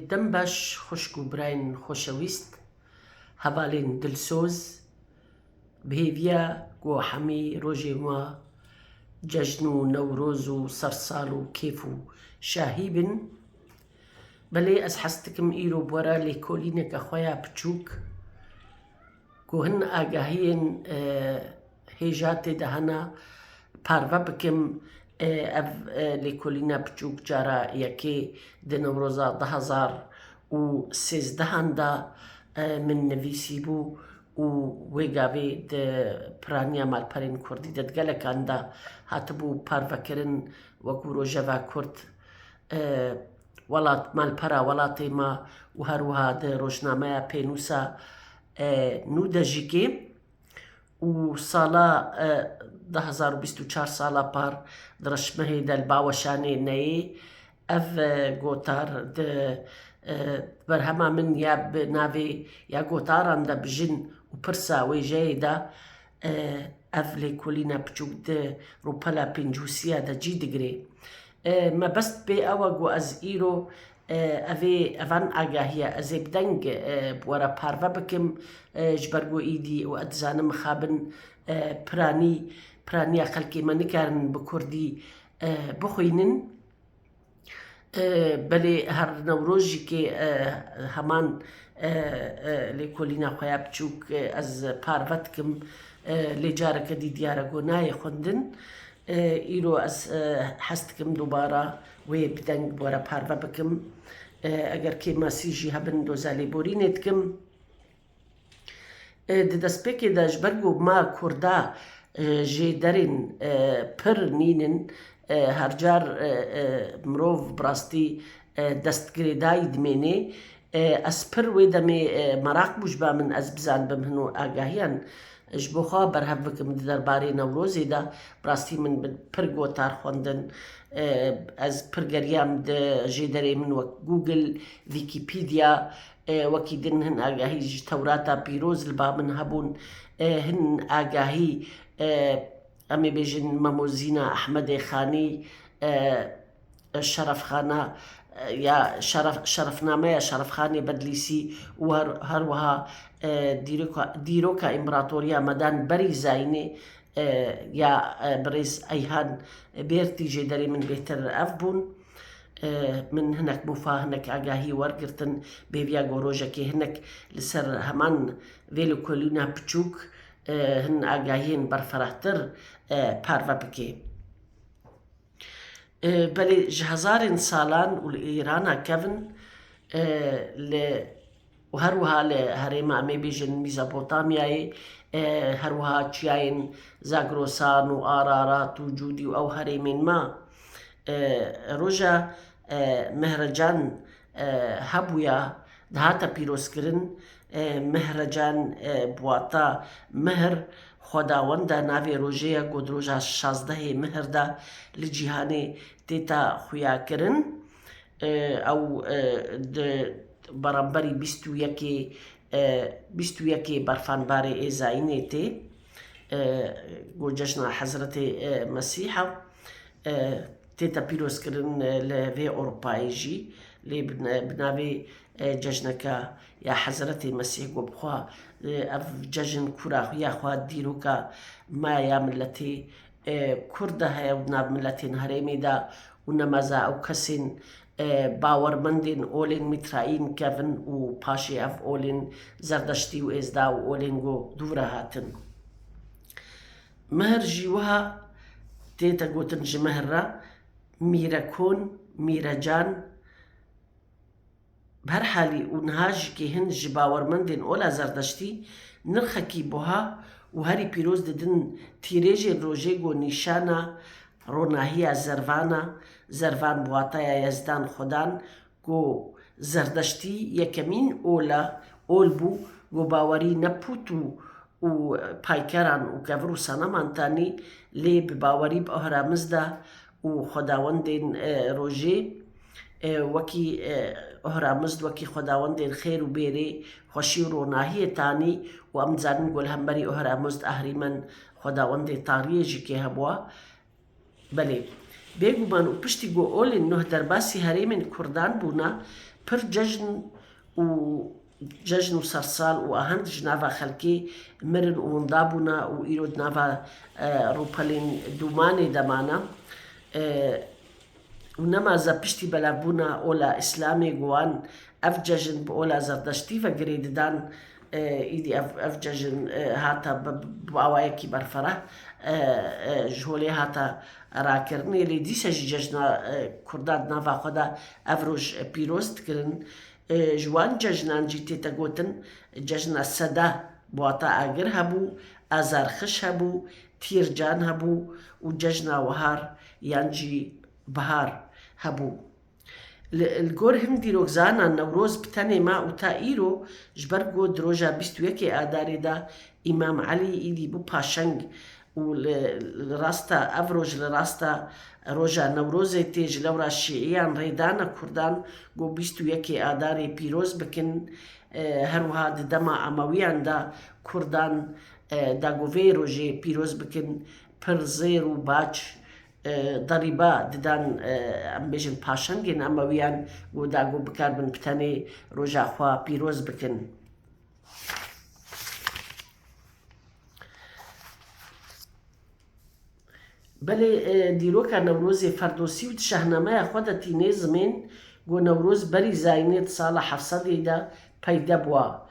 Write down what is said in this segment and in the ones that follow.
Dem baş xwişk û birayên xoşewîst, hevalên dilsoz, bi hêviya ku hemî rojên wa cejn û newroz û sersal û kêf û şahî bin. Belê ez hez dikim îro bi were lêkolîneke xwe ya piçûk ku hin agahiyên hêja têdihana parve bikim ev lêkolîna piçûk cara yekê di Newroza du hezar û sêzdehan de min nivîsîbû û wê gavê di piraniya malperên kurdî de di gelekan de hatibû parvekirin wekû rojeva kurd welat malpera welatê me û her wiha di rojnameya pênûsa nû de jî kêm û sala du hezar û bîst û çar sala par di Rişmehê de li Baweşanê neyê. Ev gotar di berhema min ya bi navê Ya Gotaran de Bijin û Pirsa Wêjeyê de ev lêkolîna piçûk di rûpela pêncûsiya de cî digirê. Mebest pê ew e ku ez îro Evê evan agahiya ez ê bi deng bi we re parve bikim ji ber ku êdî û ez dizanim mixabin piranî piraniya xelkê me nikarin bi kurdî bixwînin. Belê her newrojîkê heman lêkolîna xwe ya biçûk ez parve dikim lê careke dî diyar e ku nayê xwendin. Îro ez hez dikim dubara Wê bi deng bi were parve bikim. Eger kê masî jî hebin doza lêborînê dikim. Di destpêkê de ji ber ku ma Kurda jê derên pir nîn in, her car mirov bi rastî destgirêdayî dimênê. Ez pir wê demê meraq bû ji ba min ez bizanibim hin û agahiyan ji bo xwe berhev bikim di derbarê Newrozê de. Bi rastî min bi pir gotar xwendin. Ez pir geriyam di jêderê min wek Google, Wikipedia wekî din hin agahî ji Tewrata Pîroz li ba min hebûn. Hin agahî em ê bêjin Mamozîna Ehmedê Xanî Şerefxana ya Şerefnameya Şerefxanê Bedlîsî û her wiha Dîroka Împaratoriya Medan Berî Zaînê ya Birêz Eyhan Bêrtî jê derê min bêhtir ev bûn. Min hinek mûfa, hinek agahî wergirtin bêviya ku rojekê hinek li ser heman vê li kolîna piçûk hin agahiyên berferehtir parve bike. Belê ji hezarên salan û li Îrana kevin li û her wiha li herêma em ê bêjin Mîzopotamyayê her wiha çiyayên Zagrosan û Ararat û Cûdî û ew herêmên me roja Mehrecan hebûya dihate pîrozkirin, Mehrecan bi wata Mihr, Xwedawend e, navê rojê ye ku di roja şazdehê Mihr de li cîhanê têta xuyakirin. Ew di beramberî bîst û yekê bîst û yekê berfanbarê êzayînê tê ku cejna Hezretê Mesîh e. Têta pîrozkirin li vê Ewropayê jî lê bi navê Cejneke ya Hezretê Mesîh got, Xwe ev cejn ku ra xuya xwe dîroka me ya miletê Kurd de heye û di nav miletên herêmê de û nemaze ew kesên bawermendên olên Mîtraîn kevin û paşê ev olên Zerdeştî û Êzda û olên ku dû re hatin Mihir jî wiha tê te gotin ji mihir re, mîre kon, mîre can. Bi her halî û niha jî kê hin ji bawermendên ola zerdeştî nirxekî buha û herî pîroz didin tîrêjên rojê ku nîşana ronahiya zervan a, zervan bi wataya yezdan, xudan, Ku Zerdeştî yekemîn ol e, ol bû ku bawerî ne pût û û paykeran û kevir û seneman tenê, lê bi bawerî bi Ahramiz de û xwedawendên rojê wekî Ahramizd wekî xwedawendên xêr û bêrê, xweşî û ronahiyê tenê û em dizanin ku li hemberî Ahramizd, Ahrîmen, xwedawendê tariyê jî kê hebûa, Belê. Bêguman û piştî ku Olin nuh derbasî herêmên kurdan bûna, pir cejn û cejn û sersal û ahend ji nava xelkê mirin û winda bûna û îro di nava rûpelên dûmanê de mane. û nemaze piştî belavbûna ola îslamê û wan ev cejn bi ola zerdeştî ve girê didan îdî ev cejn hate bi awayekî berfireh ji holê hate rakirinê lê dîsa jî cejna kurdan di nava xwe de ev roj pîroz dikirin ji wan cejnan jî tête gotin cejna sede bi wata agir hebû azarxiş hebû tîrcan hebû û cejna wehar yan jî bihar hebû. Li li gor hin dîrokzanan Newroz bi tenê ma û ta îro ji ber ku di roja bîst û yekê Adarê de Îmam Elî îdî bû paşeng û li li rasta ev roj li rasta roja Newrozê tê ji lewra şîîyan rê dana kurdan ku bîst û yekê Adarê pîroz bikin her wiha di dema Emewîyan de kurdan da ku vê rojê pîroz bikin pir zêr û bac derîba didan em bêjin paşengên Emewiyan ku da ku bikarbin bi tenê roja xwe pîroz bikin. Belê dîroka Newrozê Ferdosî û di şahnameya xwe de tîne zimên ku Newroz berî Zayînê di sala heft sedê de peyde bûa.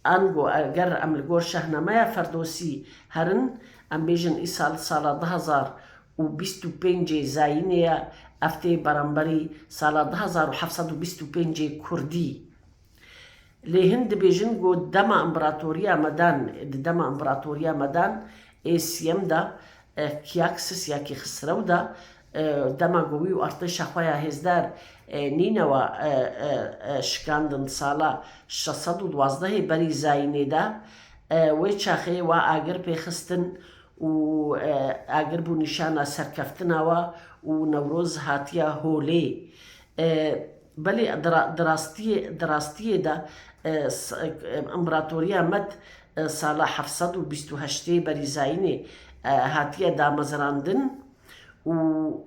Ango eger em li gor Şahnameya Ferdosî herin, em bêjin îsal sala du hezar û bîst û pêncê Zayînê ye, ev tê beramberî sala du hezar û heft sed û bîst û pêncê Kurdî. Lê hin dibêjin ku dema Împeratoriya Medan di dema Împeratoriya Medan ê siyem de, Kîyaksîs ya Kîxisrew de Dema ku wî û artêşa xwe ya hêzdar Nînewa şikandin sala şeş sed û duwazdehê berî Zayînê de, wê çaxê we agir pê xistin û agir bû nîşana serkeftina we û Newroz hatiye holê. Belê di rastiyê de Împeratoriya Med sala heft sed û bîst û heştê berî Zayînê hatiye damezrandin. Û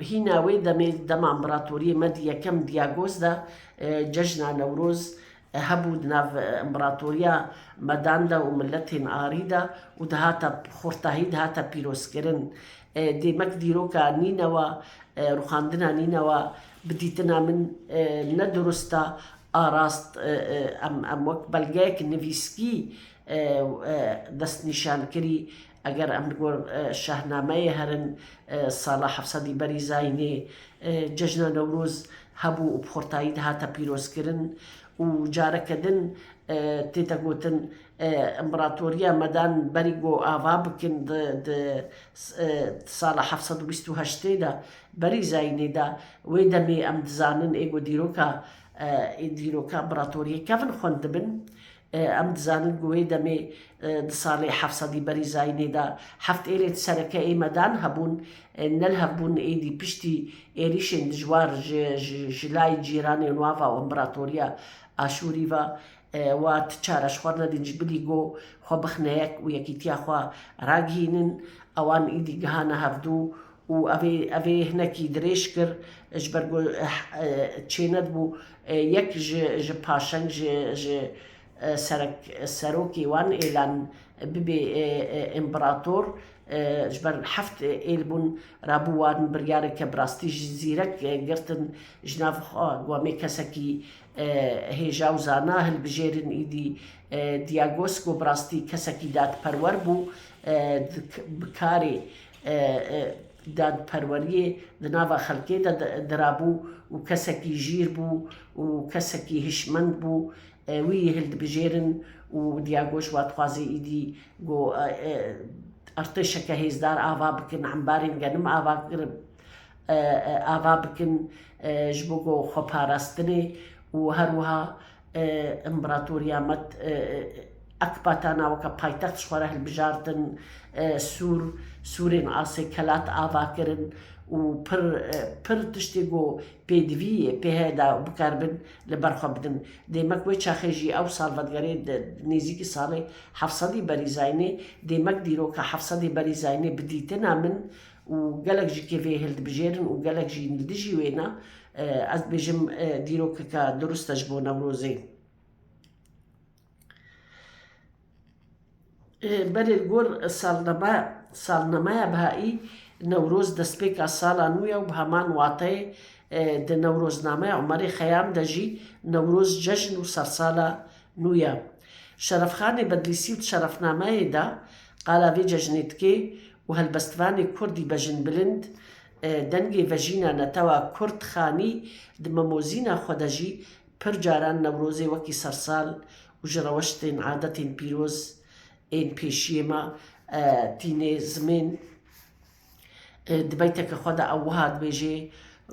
hîna wê demê, dema împeratoriyê me di yekem Diagos de cejna Newroz hebû di nav împeratoriya medan de û miletên Arî de û dihata xurtahî dihata pîrozkirin. Dêmek dîroka Nînewa, rûxandina Nînewa bi dîtina min ne durust e, a rast em wek belgeyek nivîskî destnîşan kirî Eger em li gor şahnameyê herin, sala heft sedî berî Zaynê cejna Newroz hebû û bi xurtayî dihate pîrozkirin û careke din tê de gotin Împeratoriya Medan berî ku ava bikin di sala heft sed û bîst û heştê de berî Zaynê de wê demê em dizanin ê ku dîroka împeratoriyê kevin xwendibin Em dizanin ku wê demê di salê heft sedî berî Zayînê de heft êrên sereke ê medan hebûn. Ne li hev bûn êdî piştî êrîşên dijwar ji lay cîranên wan ve û Împeratoriya Aşûrî ve wa ti çare ji xwe nedîn ji bilî ku xwe bixine yek û yekîtiya xwe ragihînin. Ewan êdî gihane hevdû û ev ê hinekî dirêj kir ji ber ku çêne dibû yek ji paşeng ji serek serokê wan êlan bibê împerator ji ber heft êl bûn rabû wan biryareke bi rastî jî zîrek girtin ji nav xwe ku em ê kesekî hêja û zana hilbijêrin îdî Diagos ku bi rastî kesekî dadperwer bû bi karê Dadperweriyê di nava xelkê de dirabû û kesekî jîr bû û kesekî hişmend bû. Wî yê hildibijêrin û Diagoş va dixwaze îdî ku artêşeke hêzdar ava bikin, embarên genim ava kirin, ava bikin ji bo ku xwe parastinê û her wiha Împeratoriya Med Ekbatana weke paytext ji xwe re hilbijartin, Sûr, Sûrên asê Kelat ava kirin û pir pir tiştê ku pêdivî yê pêhe de bikar bin li ber xwe bidin. Dêmek wê çaxê jî ew salvetgerê di nêzîkî salê heft sedî berî Zaynê, dêmek dîroka heft sedê berî Zaynê bi dîtina min û gelek jî kê vê hildibijêrin û gelek jî li dijî wê ne, ez dibêjim dîrokeke durist e ji bo Newrozê. Berê li gor salnemeya Bihayî, Newroz destpêka sala nû ye û bi heman wateyê di Newroznameya Umerê Xeyam de jî Newroz cejn û sersala Nûye Şerefxanê Bedlîsî û di şerefnameyê de qala vê cejnê dike û helbestvanê kurdî Bejin Bilind dengê vejîna netewa kurd xanî di memozîna xwe de jî pir caran Newrozê wekî sersal û ji rewştên adetên pîroz ên pêşiyê me tîne zimên Di beyteke xwe de ew wiha dibêje,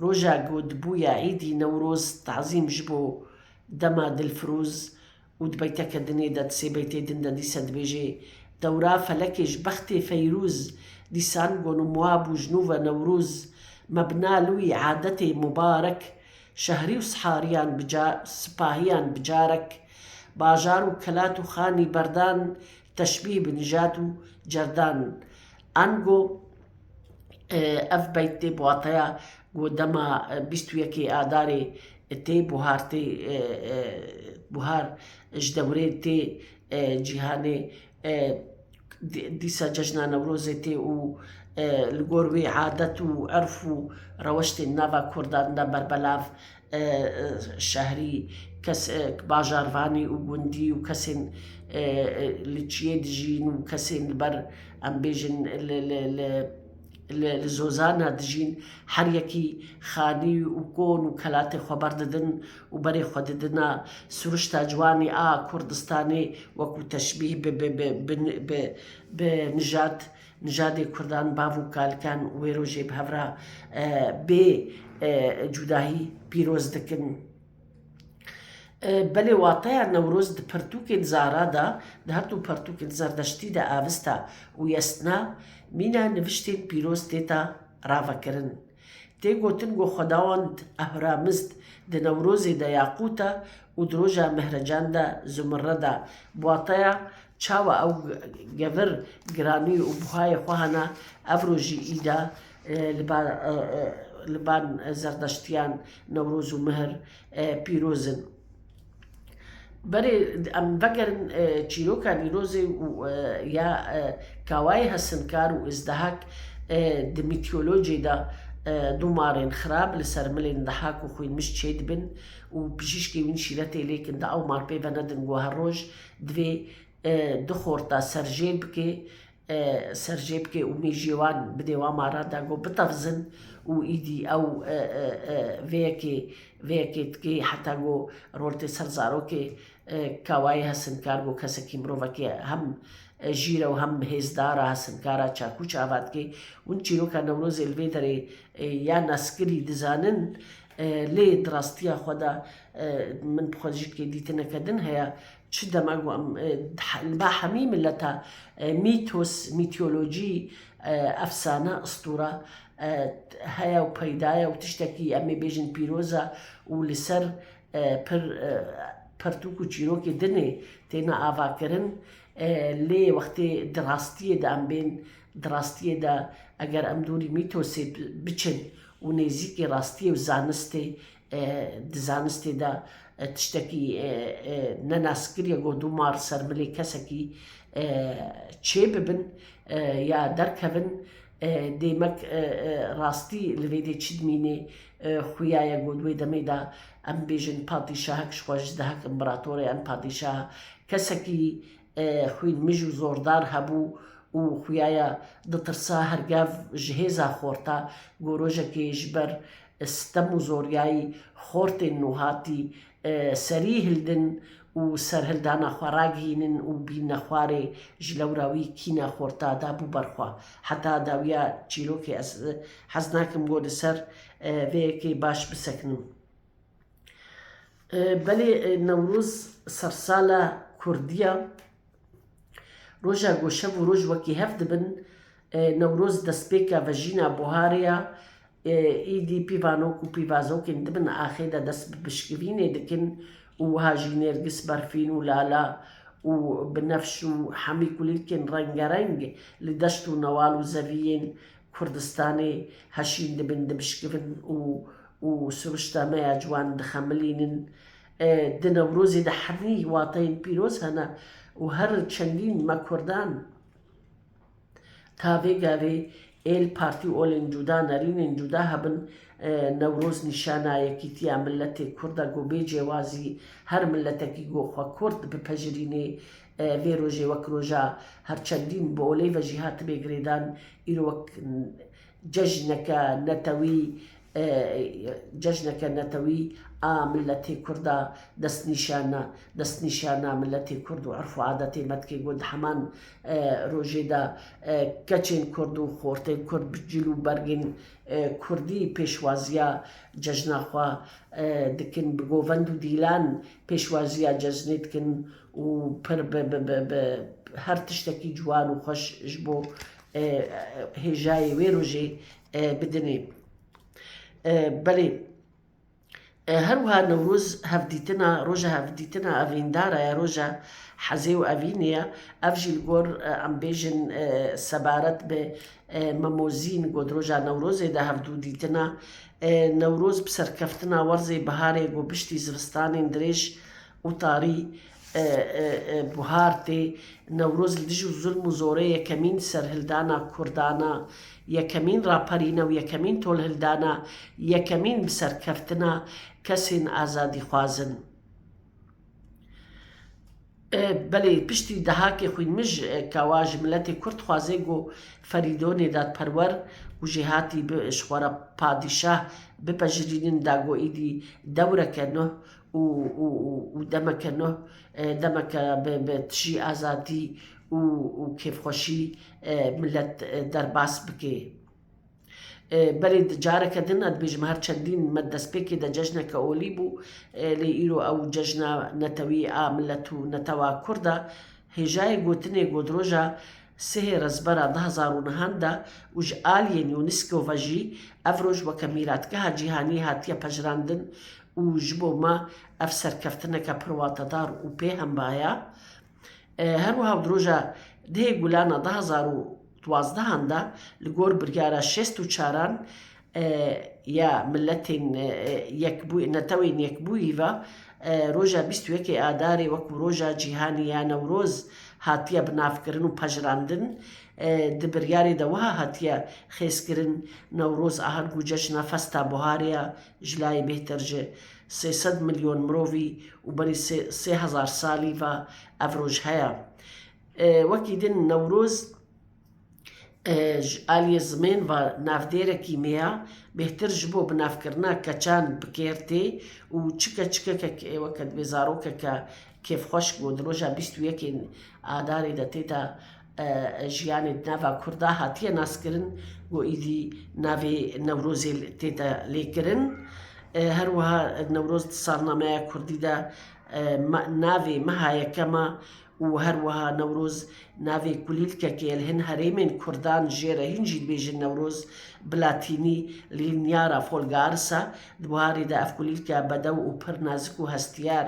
Roja ku dibûye Îdî Newroz tazîm ji bo dema Dilfirûz û di beyteke dinê de di sê beytê din de dîse dibêje, Dewra felekê ji bextê Feyrûz, dîsan gon û miwa bû ji nû ve Newrûz, me bi nal wî adetê Mubarek, şehrî û sihariyan bi sipahiyan bi carek, bajar û kelat û xanî berdan, teşbîh bi nijat û cerdan. Ango ev peyt tê bi wateya ku dema bîst û yekê Adarê tê buhar tê buhar ji dewrê tê cîhanê dîsa cejna Newrozê tê û li gor wê adet û erf û reweştên nava kurdan de berbelav Şehrî, kesek, bajarvanî û gundî û kesên li çiyê dijîn û kesên li ber em bêjin li li zozana dijîn her yekî xanî û kon û kelatê xwe berdidin û berê xwe didina sûrişta ciwanî a Kurdistanê wekû teşbîh bi bi bi bi nijad Nijadê Kurdan bav û kalken wê rojê bi hev re bê cudahî pîroz dikin. Belê wateya Newroz di pirtûkên zara de, di her du pirtûkên zerdeştî de aviste û yestina, mîna niviştên pîroz têta ravekirin. Tê gotin ku xwedawend Ehramizd di Newrozê de ya qût e û di roja Mehrecan de Zumurred e. Bi wateya çawa ew gevir giranî û buhayê xwe hene, ev rojî îde li ba zerdeştiyan Newroz û Mihir pîroz in. Berê em vegerin çîroka Nîrozê û ya Kawayê Hesinkar û Îzdehak di mîtîolojiyê de domarên xirab li ser milên dehak û xwînmiş çêdibin û pijîşkê wîn şîretê lêkin di ew mar pê venedin ku her roj divê du xorta serjêr bike serjêbikê û mêjiyê wan bi dêwama randa got bitevizin û îdî ew vê yekê vê yekê dikê heta got roltê ser zarokê kawayê hesinkar got kesekî mirovekî hem jîr e û hem hêzdar a hesinkar a çakûç ava dikê hûn çîroka Newrozê li vê derê ya naskirî dizanin lê di rastiya xwe de min bi xwe dijî dikê dîtineke din heye Çi dema ku em li ba hemî mileta mîtos, mîtolojî, efsane, istûra heye û peyda ye û tiştekî em ê bêjin pîroz e û li ser pir pirtûk û çîrokê din ê têne avakirin. Lê wextê di rastiyê de em bên, di rastiyê de eger em dorî mîtosê biçin û nêzîkê rastiyê û zanistê Di zanistê de tiştekî ne naskir ye ku du mar ser milê kesekî çê bibin ya derkevin. Dêmek rastî li vê dê çi dimînê? Xuya ye ku di wê demê de em bêjin patîşahek ji xwe ji dehek împeratorê em patîşah kesekî Xwîn mij û zordar hebû û xwiyaya ditirsa her gev ji hêza xorta ku rojekê ji ber sitem û zoryayî xortên nuhatî serî hildin û serhildana xwe ragihînin û bînne xwarê ji lewra wî kîna xorta dabû ber xwe. Heta dawiya çîrokê ez hez nakim ku li ser vê yekê baş bisekinim. Belê Newroz sersala Kurdî ya. Roja ku şev û roj wekî hev dibin, Newroz destpêka vejîna buharê ya. Îdî pîvanok û pîvazokên dibin axê de dest bi pişkivînê dikin û wiha jî nêrgis, berfîn û lala û binefş û hemî kulîlkên rengereng li deşt û newal û zeviyên Kurdistanê heşîn dibin, dibişkivin û û siruşta me ya ciwan dixemilînin. Di Newrozê de herî wateyên pîroz hene û her çendîn me Kurdan ta vê gavê êl partî olên cuda, nerînên cuda hebin, Newroz nîşana yekîtiya miletê Kurd e ku bê cêwazî her miletekî ku xwe Kurd bipejirînê, Vê rojê wek roja her çendîn bi oley ve jî hatibê girêdan, îro wek cejneke netewî cejneke netewî a miletê kurd a destnîşana destnîşana miletê kurd û erf û adetê me dike ku di heman rojê de keçên kurd û xortên kurd bi cil û bergên kurdî pêşwaziya cejna xwe dikin, bi govend û dîlan pêşwaziya cejnê dikin û pir bi bi bi bi her tiştekî ciwan û xweş ji bo hêjayê wê rojê bidinê. Belê her wiha Newroz hevdîtina roja hevdîtina evîndar e, roja hezê û evînê ye. Ev jî li gor em bêjin sebaret bi Memozîn got roja Newrozê de hevdû dîtina Newroz bi serkeftina werzê biharê got piştî zivistanên dirêj û tarî buhar tê. Newroz li dij û zulm û zorê yekemîn serhildana Kurdan a, yekemîn raperîna û yekemîn tolhildana, yekemîn bi ser keftina kesên azadîxwaz in. Belê piştî dehakê xwînmij kawa ji miletê Kurd dixwaze ku Ferîdo nêdadperwer û jêhatî bi ji xwe re padîşah bipejirînin da ku îdî dewreke nuh û û û demeke nuh demeke bi bi tijî azadî û û kêfxweşî milet derbas bikê. Belê di careke din a dibêjim her çendîn me destpêkê de cejneke olî bû lê îro ew cejna netewî a milet û netewa kurd a. Hêjayê gotinê Godroja sihê Rezbera du hezar û nihan de û ji aliyên UNISCO ve jî ev roj weke mîratgeha cîhanî hatiye pejirandin Û ji bo me ev serkeftineke pir watedar û pê hemba ye. Her wiha di roja dihê gulana du hezar û duazdehan de li gor biryara şêst û çaran ya Miletên Yekbûyî, Netewên Yekbûyî ve roja bîst û yekê Adarê wekû roja cîhanî ya Newroz hatiye binavkirin û pejirandin. Di biryarê de wiha hatiye xêzkirin, Newroz a her gû cejna festa buharê ye. Ji layê bêhtir ji sê sed milyon mirovî û berî sê hezar salî ve ev roj heye. Wekî din Newroz ji aliyê zimên ve navdêrekî mêya, bêhtir ji bo binavkirina keçan bi kêr tê û çi keçikekek ê weke dibê zarokeke kêfxweş ku di roja bîst û yekê Adarê de tê de Jiyanê di nava Kurd de hatiye naskirin ku êdî navê Newrozê tê de lêkirin. Her wiha Newroz di salnameya Kurdî de navê meha yekem e û her wiha Newroz navê kulîlkekê ye li hin herêmên Kurdan jê re hîn jî dibêjin Newroz bi latînî Lignara Folgaarsa. Di buharê de ev kulîlke bedew û pir nazik û hestiyar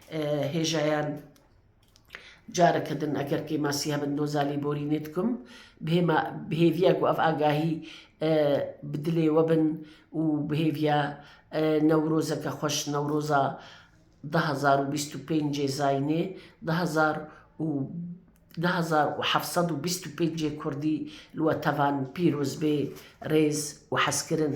hêjayan careke din eger kê masî hebin doza lî borînê dikim bihêma bihêviya ku ev agahî bi dilê we bin û bihêviya newrozeke xweş newroza du hezar û bîst û pêncê zaynê du hezar û du hezar û heft sed û bîst û pêncê kurdî li we tevan pîroz bê rêz û hezkirin.